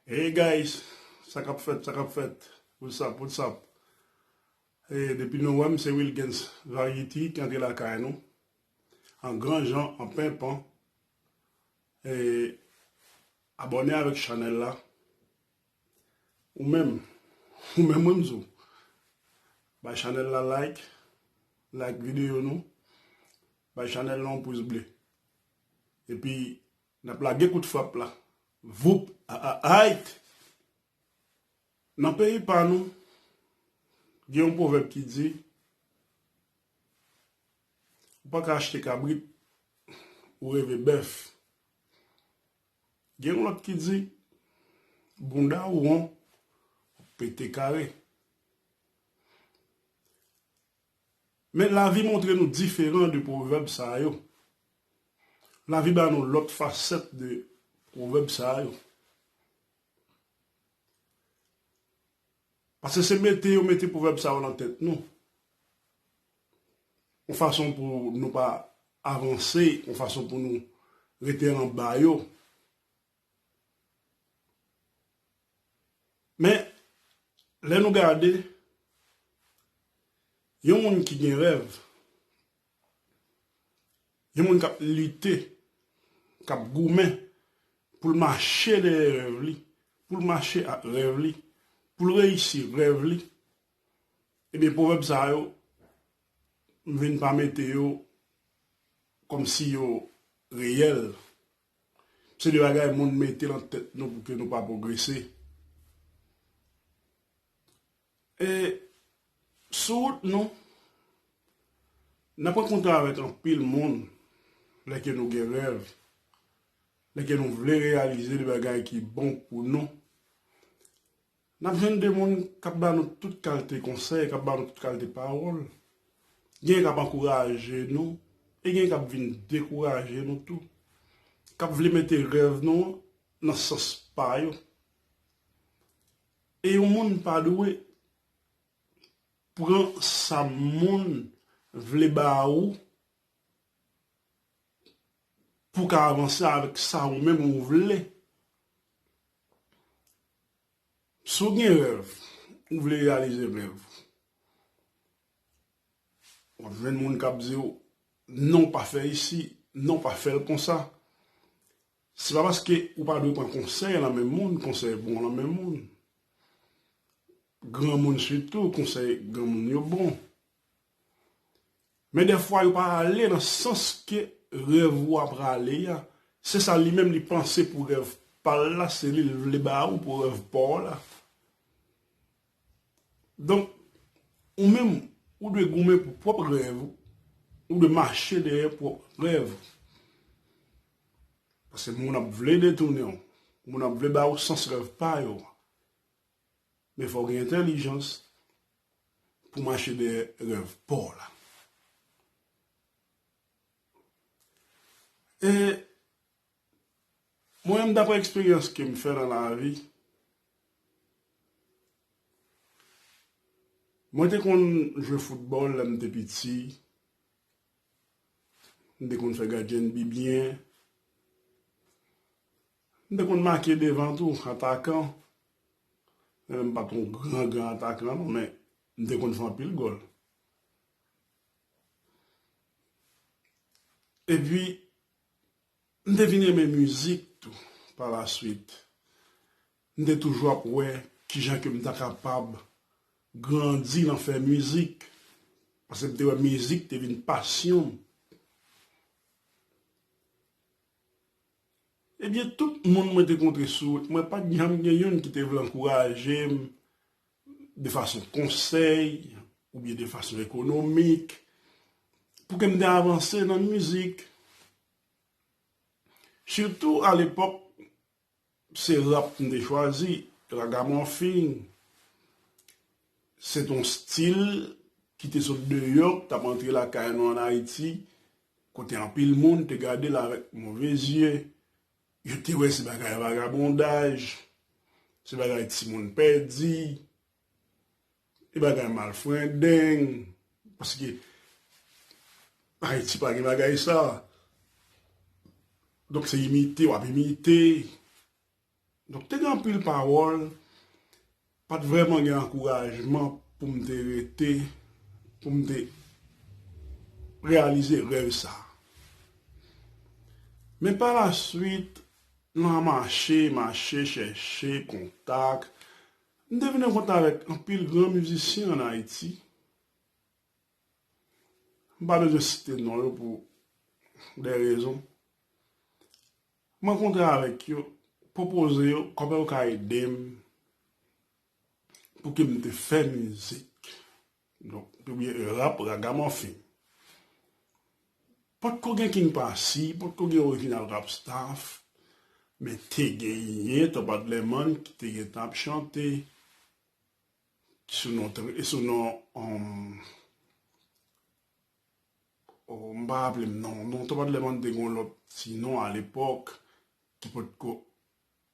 Hey guys sa kap fèt sa kap fèt what's up what's up hey depi nou wèm se Wilguens variety ki antre lakay nou an gran jan an penpan hey abòne avèk chanèl la ou menm ou menm wèm zou bay chanèl la like like videyo nou bay chanèl la yon pous ble epi Nap lage kout frap la voup aaaayt Nan peyi pa nou gen yon pwovèb ki di ou pa ka achte kabrit ou reve bèf gen yon lòt ki di bounda ou won wap pete kare. Men lavi montre nou diferan de pwovèb sa yo. Lavi ba nou lòt fasèt de pwovèb sa yo. Pase se mete yo mete pwovèb sa yo lan tèt nou. Yon fason pou nou pa avanse, yon fason pou nou rete anba yo. Men, lè nou gade, yon moun ki gen rèv, yon moun k ap lite, k ap goumen pou l mache dèyè rèv li, pou l mache ak rèv li, pou l reyisi rèv li, ebyen pwovèb sa yo, m vin pa mete yo kòmsi yo reyèl. Se de bagay moun mete lan tèt nou pou ke nou pa pwogrese. E, sou wout nou, n ap rankontre avèk anpil moun lè ke nou gen rèv, lè ke nou vle reyalize de bagay ki bon pou nou. N ap jwenn de moun k ap ba nou tout kalte konsèy, k ap ba nou tout kalte pawòl. Genyen k ap ankouraje nou e genyen k ap vin dekouraje nou tou, k ap vle mete rèv nou an nan sans pa yo. E yon moun pa dwe pran sa moun vle ba ou pou w ka avanse avèk sa ou menm ou vle. Si w gen rèv, ou vle reyalize rèv ou, w ap jwenn moun k ap di w, non pa fè isi, non pa fè l konsa. Se pa paske ou pa dwe pran konsèy nan men moun, konsèy bon nan men moun. Granmoun sitou, konsèy granmoun yo bon. Men dèfwa yo pa ale nan sans ke rèv ou a prale a, se sa li menm li panse pou rèv pa l la, se li l vle ba ou pou rèv pa w la. Donk, ou menm, ou dwe goumen pou pwòp rèv ou, ou dwe mache dèyè pwòp rèv ou. Pase moun ap vle detounen w, moun ap vle ba ou sans rèv pa yo. Men fò w gen entèlijans. pou mache dèyè rèv paw la. E mwen menm daprè eksperyans kem fè nan lavi, mwen te konn jwe foutbòl lèm te piti, m te konn fè gadyen de bi byen, M te konn make devan tou, atakan, men m pa t yon gran gran atakan non, men m te konn fè anpil gòl. Epi, m te vin renmen mizik tou palaswit. M te toujou ap wè kijan ke m ta kapab grandi nan fè mizik, paske m te wè mizik te vin pasyon m. Ebyen tout moun mwen te kontre sou wout mwen pat janm gen youn ki te vle ankouraje m de fason konsèy oubyen de fason ekonomik pou ke m te avanse nan mizik. Sitou alepòk. Se rap m te chwazi. Ragamuffin se t yon stil ki te sot deyò, k t ap antre lakay nou an Ayiti, kote anpil moun te gade l avèk move zye. Yo te wè se bagay vagabondaj, se bagay timoun pèdi. E bagay mal frendeng paske Haiti pa gen bagay sa. Donk se imite wap imite. Donk te gen anpil pawol pat vreman gen ankourajman pou m te rete pou m te reyalize rev sa. Men pa la swit nan mache mache chèche kontak M te vin an kontak avèk anpil gran mizisyen an Ayiti. M pa bezwen site non yo pou dè rezon. M rankontre avèk yo, pwopoze yo kòman yo ka ede m pou ke m te fè mizik. Donk ou byen rap ragamuffin. Pot ko gen king pasi, pot ko gen original rap staff, men te genyen Top Adlerman ki te gentan ap chante sou non e sou non oh m pa raplem non, non Top Adlerman te gon lòt ti non a lepòk ki pot ko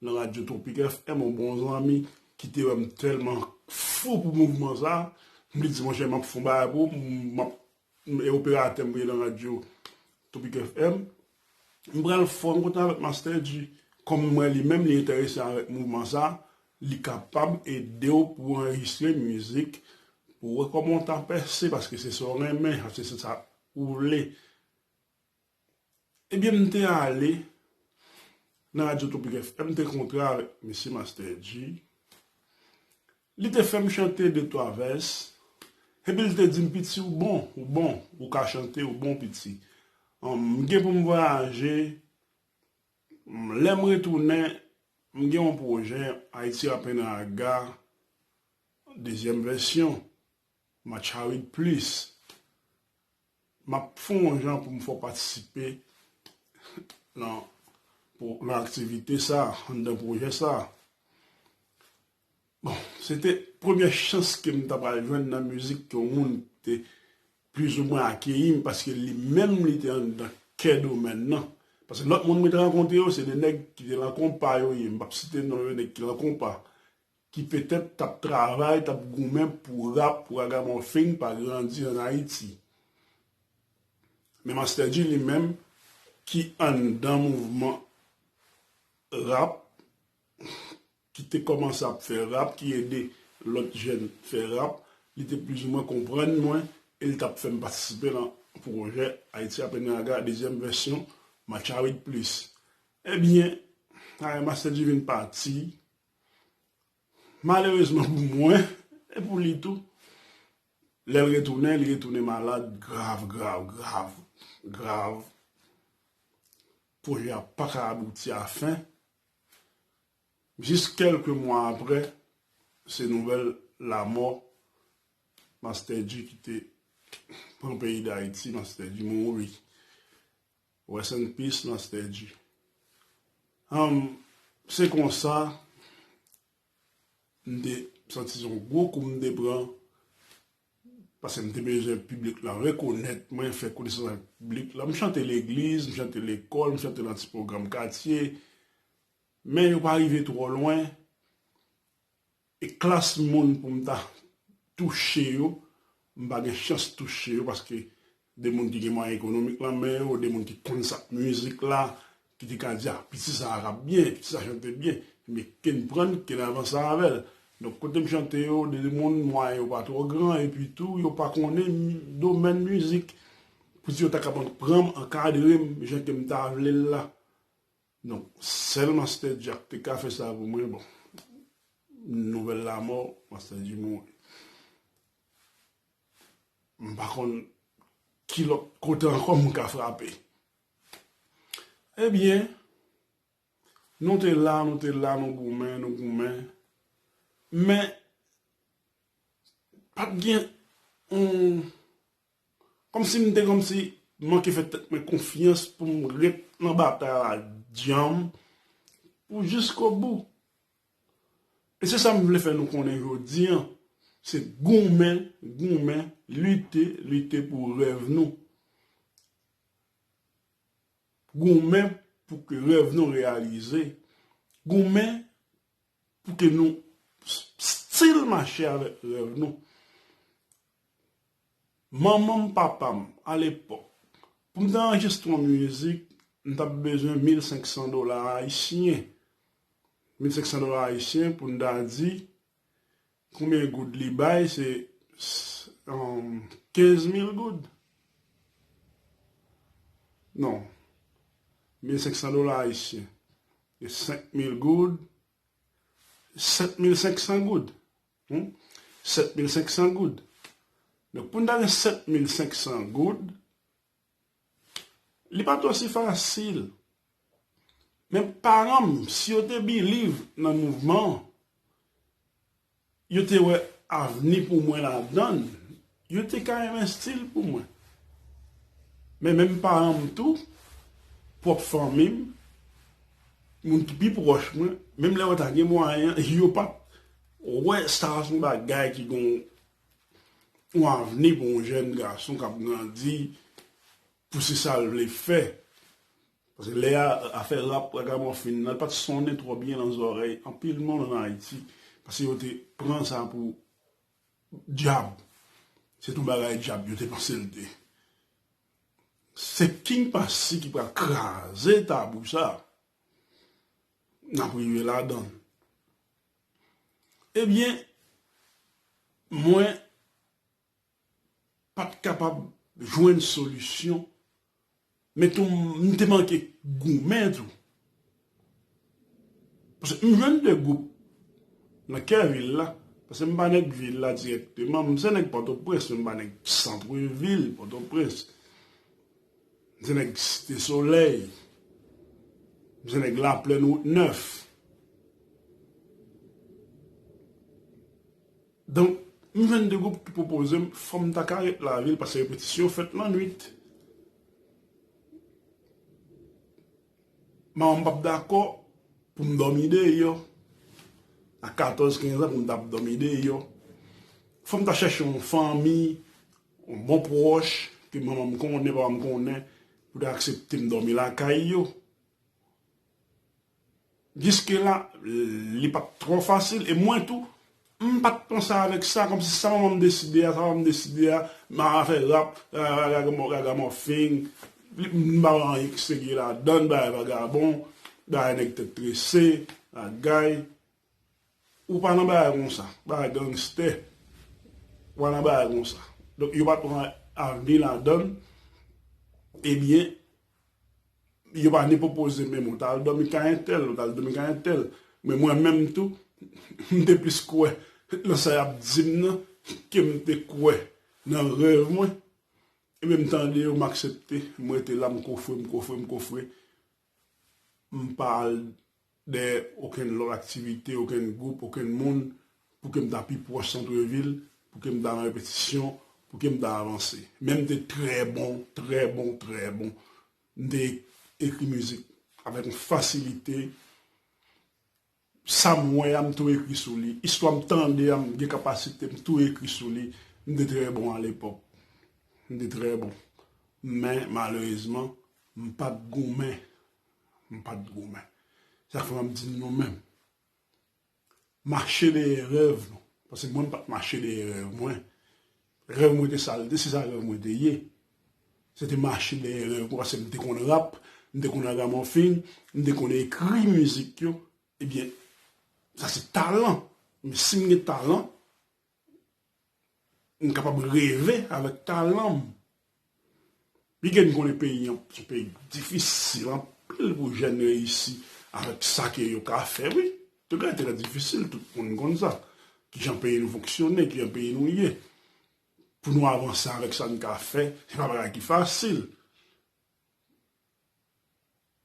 nan radio tropic FM yon bon zanmi kite wèm tèlman fou pou mouvman sa mte di monchè map fon bagay pou map e operatè mwen nan radio tropic FM mpral fò m kontan avèk master dji kòm mwen li menm li entèrese avèk mouvman sa li kapab edew pou anrejistre mizik pou wè kòman w ta pèse paske se sa w renmen se sa ou vle. Ebyen m te ale nan radyo tropik FM m te kontre avèk mesye Master Dji li te fèm chante de twa vès epi l te di m piti ou bon ou bon ou ka chante ou bon piti m gen pou m vwayaje lè m retounen m gen yon pwojè Haïti Rapennraga dezyèm vèsyon Matcharit plis. Map fon yon jan poum fè w patisipe nan nan aktivite sa anndan pwojè sa. Bon, se te premyè chans ke m ta pral jwenn nan mizik ke yon moun te plizoumwen akeyi m paske li menm li te anndan kè domèn nan. Paske lòt moun mwen te rankontre yo se de nèg ki te lan konpa yo ye, m pap site non yo, nèg ki lan konpa. ki petèt tap travay, tap goumen pou rap ragamòfin pa grandi an Ayiti. Men Master Dji li menm ki anndan mouvman rap, ki te kòmanse ap fè rap, ki ede lòt jèn fè rap, li te plizoumwen konprann mwen e li tap fèm patisipe nan pwojè Ayiti Apen Raga dezyèm vèsyon Matcha Wid Plis. Ebyen, Master Dji vin pati. Malerezman pou mwen, e pou li tou, lè l retounen, li retounen malad grav, grav, grav, grav. Pwojè a pa ka abouti a fen. Jis kèlke mwa apre, se nouvèl lamò Master Dji ki te pran peyi Dayiti, Master Dji mouri. Rest in peace Nostedji. Humm se konsa m te santi se yon gwo kou m te pran paske m te bezwen piblik la rekonèt mwen, fè konesans ak piblik la. M chante legliz, m chante lekòl, m chante nan ti pwogram katye men yo pa rive twò lwen. E klas moun pou m ta touche yo, m pa gen chans touche yo paske de moun ki gen mwayen ekonomik lan men yo, de moun ki konn sa k mizik la, ki te ka di a piti sa a rap byen, piti sa a chante byen, me knprann, ke n avanse avè l. Donk kote m chante yo, de moun mwayen yo pa twò gran epi tou yo pa konnen domèn mizik pou di yo ta kapab pran m, ankadre m jan ke m ta vle l la. Non sel master jack te ka fè sa pou mwen bon nouvel lamò master dji mouri m pa konn ki lot kote anko m ka frape ebyen nou te la nou te la nou goumen nou goumen men pat gen yon Kòmsi m te kòmsi manke fè tèt mwen konfyans pou m ret nan batay la dyanm pou jiskobou. E se sa m vle fè nou konnen jodi an, se goumen, goumen, lite, lite pou rèv nou. Goumen pou ke rèv nou reyalize. Goumen pou ke nou stil mache avèk rèv nou. Manman m papa m a lepòk pou m ta anrejistre yon mizik m t ap bezwen 1500 dola ayisyen, 1500 dola ayisyen pou n ta di konbyen goud li bay se 15 mil goud non 1500 dola ayisyen se 5 mil goud 7500 goud. Hum 7500 goud. Donk pou n ta gen 7500 goud, li pa t osi fasil. Men paran m, si yo te biliv nan mouvman an, yo te wè avni pou mwen ladan l, Yo te ka renmen stil pou mwen. Men menm paran m tou, pwòp fanmi m, moun ki pi pwòch mwen, menm lè yo ta gen mwayen, yo pa t wè sa se yon bagay ki gen yon avni pou yon jèn gason k ap grandi pou se sa l vle fè. Paske lè a, afè rap ragamòfin nan pa t sonnen twò byen nan zòrèy anpil moun ann Ayiti paske yo te pran sa pou Dyab. Se tou bagay dyab yo te panse l te. Se King Passy ki pral kraze tabou sa. N ap rive ladan. Ebyen, mwen pa t kapab jwenn solisyon. Men tou m te manke goumen tou. Paske m jwenn 2 gwoup nan kè vil la. Paske m pa nèg vil la dirèkteman. M se nèg Pòtoprens men m pa nèg santre vil Pòtoprens. M se nèg Site Solèy. M se nèg Laplèn Wout Nèf. Donk, m jwenn de gwoup ki pwopoze m fò m ta ka ret lavil paske repetisyon yo fèt lannwit. Manman m pa t dakò pou m dòmi deyò. A katòz, kenz an pou m ta ap dòmi deyò. Fò m ta chèche yon fanmi, yon bon pwòch ke manman m konnen, papa m konnen pou ta aksepte m dòmi lakay yo. Jiske la li pat twò fasil e mwen tou m pat panse avèk sa kòmsi sa manman m deside a sa papa m deside a m ava fè rap ragamòfing m pa wè anyen ki serye ladan bagay vagabon bagay nèg tèt trese bagay Ou pa nan bagay konsa. Bagay gangster. Ou pa nan bagay konsa. Donk yo pa t pran avni ladann. Ebyen, yo pa ni pwopoze menm ou ta al dòmi kay entèl, ou ta al dòmi kay entèl. Men mwen menm tou, m te plis kwè nan sa y ap di m nan ke m te kwè nan rèv mwen. Ebyen m tande yo, m aksepte. M rete la, m kofre, m kofre, m kofre. m pa al dè okenn lòt aktivite, okenn gwoup, okenn moun pou ke m ta pi pwòch santrevil, pou ke m ta nan repetisyon, pou ke m ta avanse. Men m te trè bon, trè bon, trè bon. M te ekri mizik avèk yon fasilite. Sa m wè a m tou ekri sou li. Istwa m tande a m gen kapasite m tou ekri sou li. M te trè bon alepòk. M te trè bon. Men malerezman, m pa t goumen. M pa t goumen. Se sa k fè m ap di nou menm. Mache dèyè rèv nou. Paske mwen m pa t mache dèyè rèv mwen. Rèv mwen te sal, se sa rèv mwen te ye. Se te mache dèyè rèv mwen paske m te konn rap, m te konn ragamòfin, m te konn ekri mizik yo. Ebyen, sa se talan. Men si m gen talan, m kapab reve avèk talan m. Bgy m konnen peyi an se peyi k difisil anpil pou jèn reyisi avèk sa ke yo ka fè wi. Se bagay trè difisil tout moun konn sa. Kijan peyi nou fonksyone, kijan peyi nou ye. Pou nou avanse avèk sa n ka fè se pa bagay ki fasil.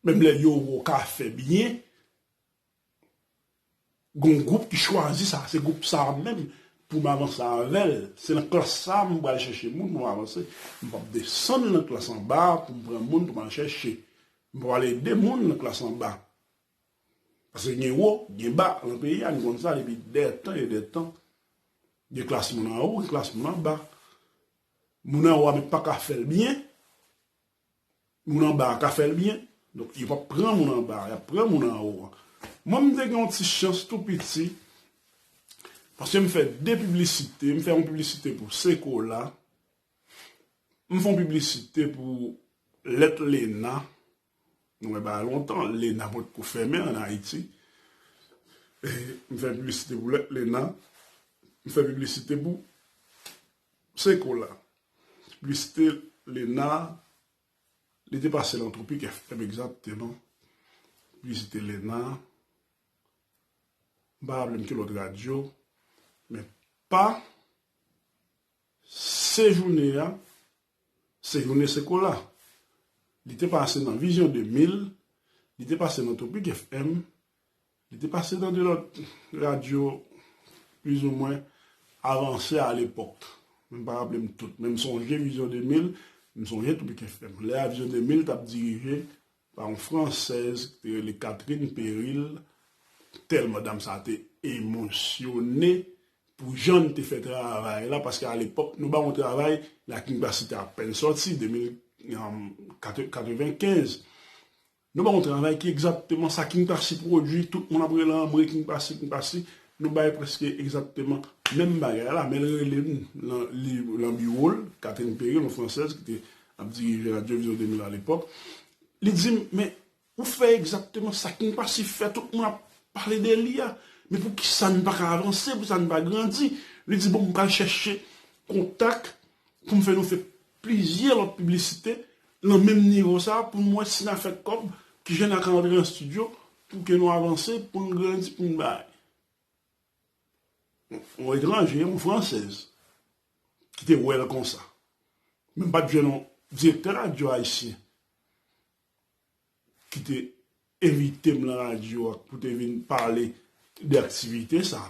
Menm lè yo wè w ka fè byen. Gon gwoup ki chwazi sa, se gwoup sa a menm pou m avanse avè l. Se nan klas sa a m pral chèche moun pou m avanse. M p ap desann nan klas anba a pou m pran moun pou m al chèche. M p ap al ede moun nan klas anba. Paske gen wo, gen ba nan peyi a, nou konn sa depi dè tan e dè tan. Gen klas moun anwo, gen klas moun anba. Moun anwo a menm pa ka fè l byen, Moun anba a ka fè l byen. Donk yo pap pran moun anba a, y ap pran moun anwo a. Mwen m te gen yon ti chans tou piti paske m fè de piblisite. M fè yon piblisite pou Sekola, m fè yon piblisite pou lèt Lena. Nou wè bagay lontan, Lena potko fèmen an Ayiti. M fè piblisite pou lèt Lena. M fè piblisite pou. Se kou la. Plistelena Li te pase lan Tropik FM egzakteman. Plistelena M pa raple m ki lòt radyo, men pa Sejoune a, Sejoune se kou la. Li te pase nan Vizyon 2000, li te pase nan Tropik FM, Li te pase nan 2 lòt radyo plizoumwen avanse a lepòk. Mwen pa raple m tout, men m sonje Vizyon 2000, m sonje tou Bic FM. Lè a Vizyon 2000 t ap dirije pa yon fransèz ki te rele Catherine Peril, tèlman dam sa a te emosyone pou jan li te fè travay la, paske a lepòk nou ba yon travay, La King Bassy te apèn sòti, 2000, 95, Nou bay yon travay ki egzakteman sa Kingpasy pwodui, tout moun ap rele anmwe Kingpasy, Kingpasy, nou bay prèske egzakteman menm bagay la, men l rele m nan li lan biwo l, Catherine Perry, yon fransèz ki te ap dirije Radyo Vizyon 2000 alepòk, li di m, men, ou fè egzakteman sa Kingpasy fè, tout moun ap pale de li a, men pou ki sa n pa ka avanse, pou ki sa n pa grandi? Li di, bon, m pral chèche kontak pou m fè nou fè Plizyè lòt piblisite nan menm nivo sa pou nou wè si na fè kòb, kijan na ka antre nan studio pou ke nou avanse, pou nou grandi, pou nou bay. Yon etranje, yon fransèz ki te wè l konsa. Men m pa t jwenn yon direktè radyo ayisyen. ki te envite m lan radyo a pou te vin pale de aktivite sa,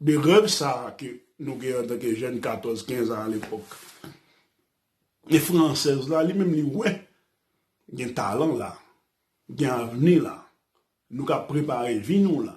de rèv sa ke nou gen an tan ke jèn 14, 15 an alepòk. E fransèz la li menm li wè gen talan la, gen avni la, nou ka prepare vi nou la.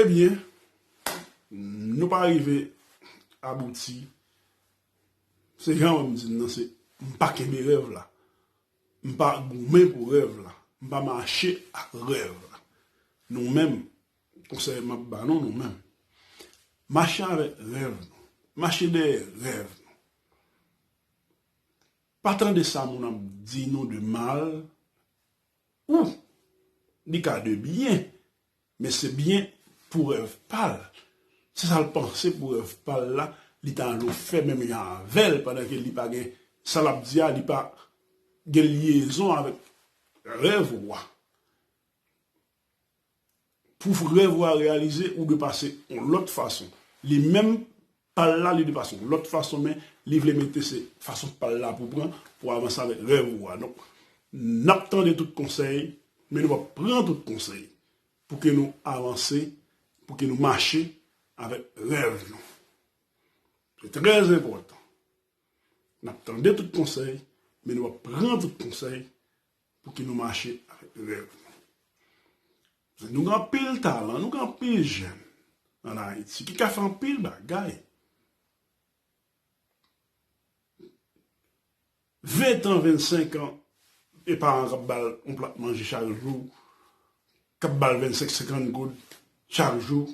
Ebyen, nou pa rive abouti. Se jan wè m di n nan, se m pa kenbe rèv la. M pa goumen pou rèv la. M pa mache ak rèv la. Nou menm, konsèy m ap ba nou nou menm, mache avèk rèv nou, mache dèyè rèv nou. Pa tande sa moun ap di nou de mal ou li ka de byen Men se byen pou rèv pal, se sal panse pou rèv pal la li ta anlo fè menm jan avèl pandan ke li pa gen sa lap di a li pa gen lyezon avèk rèv ou a. Pou rèv ou a reyalize ou dwe pase yon lòt fason. Li menm Pal la li de fason lot fason men li vle mete se fason pal la pou pran pou avanse avek rev ou a donk nap tande tout konsey men nou pap pran tout konsey pou ke nou avanse pou ke nou mache avek rev nou se tre enpotan nap tande tout konsey men nou pap pran tout konsey Pouki nou mache avèk rèv nou? Paske nou gen anpil talan, nou gen anpil jèn an Ayiti ki ka fè anpil bagay. Ventan, vennsenkan, gen paran k ap ba l yon plat manje chak jou, k ap ba l vennsenk, senkann goud chak jou.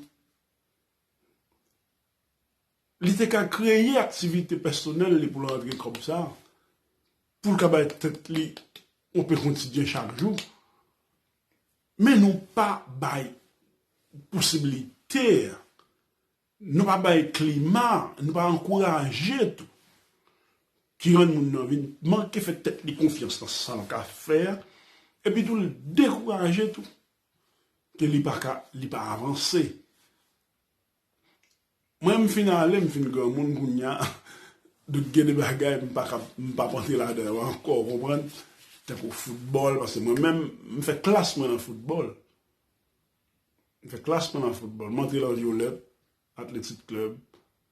Li te ka kreye aktivite pèsonèl li pou l rantre kòb sa, pou l ka bay tèt li yon pen kontidyen chak jou. Men nou pa bay posibilite a, nou pa bay klima, nou pa ankouraje tou ki rann moun nan vin manke fè tèt li konfyans nan sa l ka fè a, epitou l dekouraje tou ke li pa ka li pa avanse mwen m fin ale m fin granmoun kounya donk gen de bagay m pa kab m pap antre ladan yo ankò ou konprann tankou foutbòl paske mwen menm m fè klas mwen nan foutbòl m fè klas mwen nan foutbòl m antre lan vyolèt atletik klèb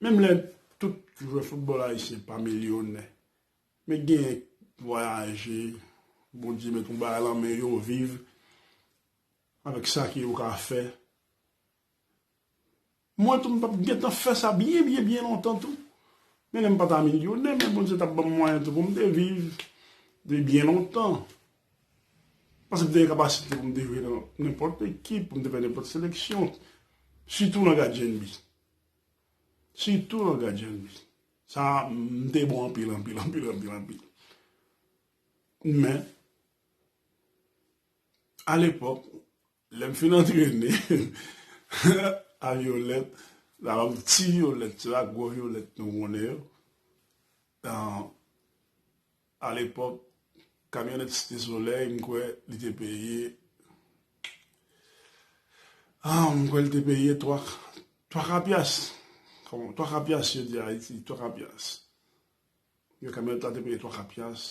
Menm lè tout jwè foutbòl ayisyen pa milyonè, men genyen k vwayaje, Bondye met yon bagay lan men yo, viv avèk sa ke yo ka fè. Mwen tou m tap gentan fè sa byen byen byen lontan tou, men lè m pa ta milyonè, men Bondye tap banm mwayen tou pou m te viv depi byen lontan. Paske m te gen kapasite pou m te jwe nan nenpòt ekip, pou m te fè nenpòt seleksyon. Sitou nan gadyen bi. Sitou nan gadyen bi. Sa m te bon anpil, anpil, anpil, anpil, anpil. Men, alepòk, Lèm fin antrene a violèt la banm ti violèt yo ak gwo violèt nou konnen yo tan alepòk kamyonèt site solèy m kwè li te peye ah m kwè li te peye 3 3 ka pyas kòman 3 ka pyas yo di ayiti 3 ka pyas yon kamyonèt la te peye 3 ka pyas.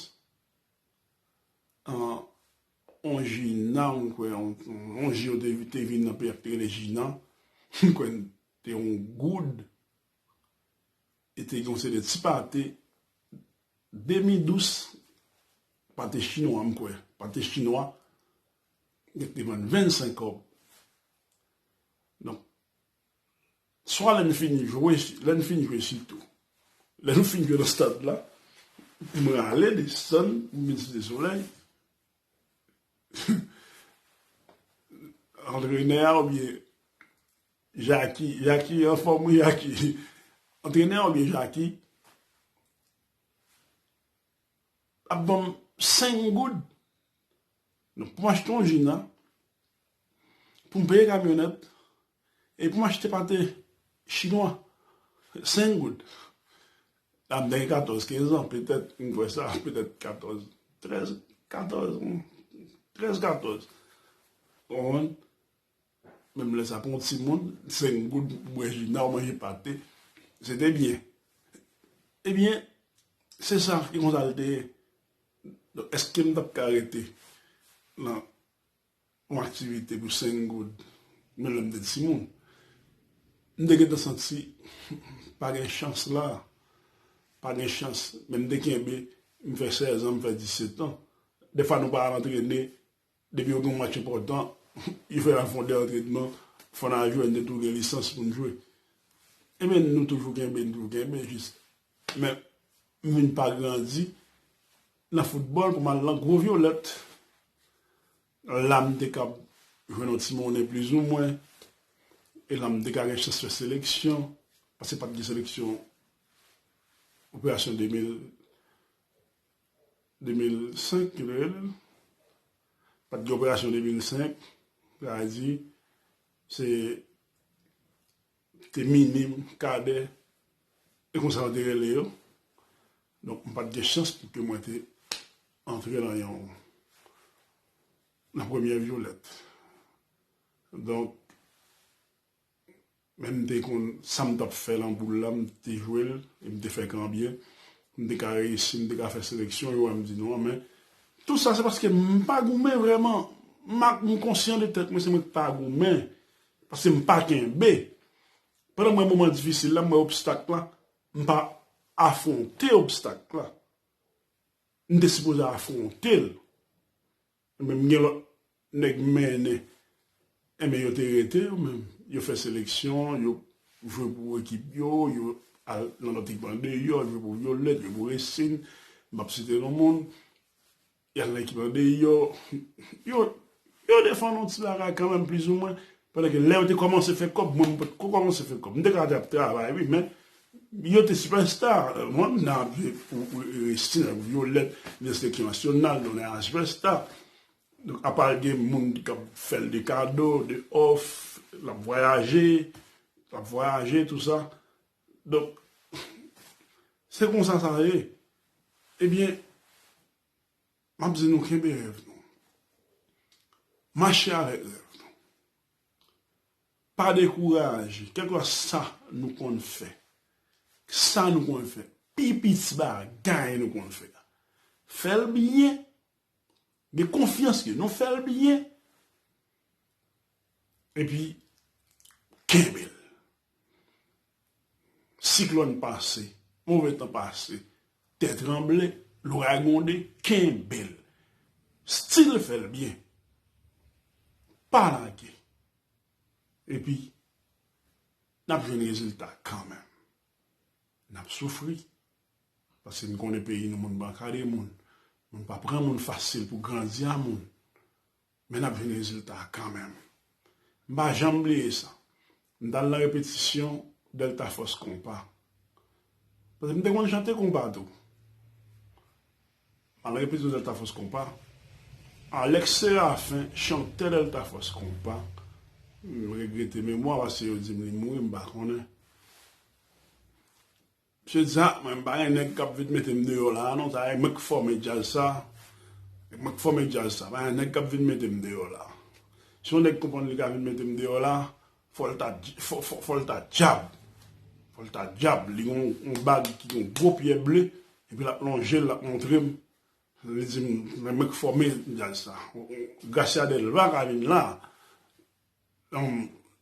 On Jina m kwè on jou yo te vin nan peyi a ki te rele Jina m kwè te on goud e te gen on seri de ti pate demi dous pate chinwa m kwè pate chinwa yo te vann 25 kòb donk Swa lè n fini jwe, lè n fin jwe sitou. Lè nou fin jwe nan stad la, m rale desann, m vin Site Solèy, antrenè a oubyen Jaki, Jaki anfòm wi Jaki, antrenè a oubyen Jaki ap ban m 5 goud. Nou pou m achte yon jina, pou m peye kamyonèt, e pou m achte pate chinwa, 5 goud. Lè m te gen 14, 15 an, petèt, m kwè sa, petèt 14, 13, 14, 13, 14. Ou konprann? Menm lè sa pou yon timoun, 5 goud pou bwè jina ou manje pate, se te byen. Ebyen, se sa, e konsa l te ye. Donk eske m tap ka rete nan yon aktivite pou 5 goud menm lè m te timoun? M te gentan santi pa gen chans la, pa gen chans men m te kenbe, m fè 16 an, m fè 17 an. Dèfwa nou pa al antrene Depi yo gen yon match enpòtan, yo fè yon fon de antrenman, fò nan jwe, n te tou gen lisans pou n jwe. E men nou toujou kenbe, nou toujou kenbe jis. Men, m vin pa grandi nan foutbòl pou m al nan gwo vyolèt. La m te kab jwenn yon ti monnen plizoumwen, e la m te ka gen chans fè seleksyon, paske pa t gen seleksyon operasyon 2000. 2005 yo te rele l. Pa t gen operasyon 2005. Sa vle di se te minim, kadè e konsa yo te rele yo. Donk m pa t gen chans pou ke mwen te antre nan yon nan premyè vyolèt. Donk. Men m te konn sa m t ap fè lan boul la, m te jwe l e m te fè kan byen. M te ka reyisi, m te ka fè seleksyon, yo wè m di non. Men, tout sa se paske m pa goumen vrèman. M ak m konsyan de tèt mwen, se mwen ki pa goumen, paske m pa kenbe. Pandan m wè moman difisil la, m wè obstak la, m pa afwonte obstak la. M te sipoze afwonte l. Menm m gen lòt nèg m mennen enben yo te rete yo menm yo fè seleksyon yo jwe pou ekip yo yo al nan lòt ekip andeyò jwe pou vyolèt jwe pou resin m ap site non moun y al nan ekip andeyò yo yo defann yon ti bagay kanmenm plizoumwen Pandan ke lè yo te kòmanse fè kòb, mwen m pat ko kòmanse fè kòb. M te ka ap travay wi, men yo te sipèsta. Mwen m nan ap viv pou Restin ak Vyolèt, Nès te ki Nasyonal, nou nan HVESTA. Donk apa gen moun ki ap fè l de kado, de òf, l ap vwayaje, l ap vwayaje tou sa. Donk, se konsa sa ye. Ebyen. Map di nou kenbe rèv nou. Mache avèk rèv nou. Pa dekouraje kèlkwa sa nou konn fè. Sa nou konn fè. Pi piti bagay nou konn fè. Fèl byen. Gen konfyans ke nou fèl byen. Epi kenbe l. Siklòn pase, move tan pase, tè tranble, loray gwonde, kenbe l. Still fè l byen. Pa lage. Epi, n ap jwenn rezilta kanmenm. N ap soufri. Paske n konnen peyi nou moun banka de moun. Moun pa pran moun fasil pou grandi a moun. Men n ap jwenn rezilta a kanmenm. M pa janm bliye sa. M t al nan repetisyon Delta Force Konpa. Paske m te konn chante konpa tou. M al nan repetisyon Delta Force Konpa. Alex Séraphin, chantè Delta Force Konpa, m regrete memwa paske yo di m li mouri, m pa konnen. Mesye Zak mwen m pa gen nèg kap vin metem deyò la a non sa e mwen k fòme djaz sa e mwen k fòme djaz sa pa gen nèg kap vin metem deyò la a si yon nèg konprann li ka vin metem deyò la a fòl ta fòl ta djab fòl ta djab li gon yon bagy ki gon gwo pyè ble epi lap lonjel lap montrem li dim men mwen k fòme djaz sa Gracia Delva ka vin la a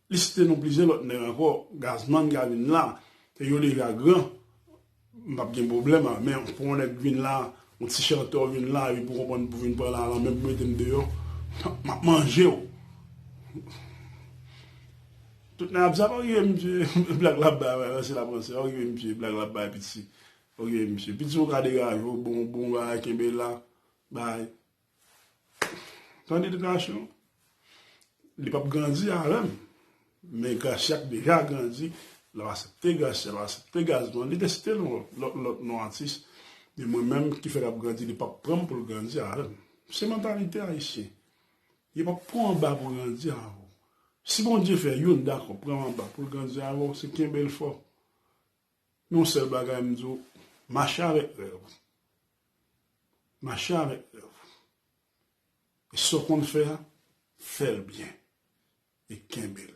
Li site non plizyè lòt nèg ankò, Gazman ka vin la, ke yo deja gran, m pap gen pwoblèm a, men pou yon nèg vin la, yon ti chantè w vin la, epi pou konprann pou vin pran lalan menm pou mete m deyò, m ap manje w. Tout nèg ap zap, ok misye, blag l ap bay la, ranse l ap ranse la, ok misye, blag l ap bay piti, ok misye, piti ou ka degaje w, bon bagay kenbe la, bay, Tan edikasyon, li pap grandi avèm, men Gracia ki deja grandi, lap asepte Gracia, lap asepte Gazman, li deside lòt non atis, men mwen menm ki fè lap grandi li pap pranm poul grandi avèm. Se mantalite ayisyen. Yo pap pranw anba pou grandi avèw. Si Bondye fè youn dakò pranw anba poul grandi avèw, se kenbel fò. Men yon sèl bagay mdi w, mache avèk rèv ou. Mache avèk rèv ou. E sa w konn fè a, fè l byen e kenbe l.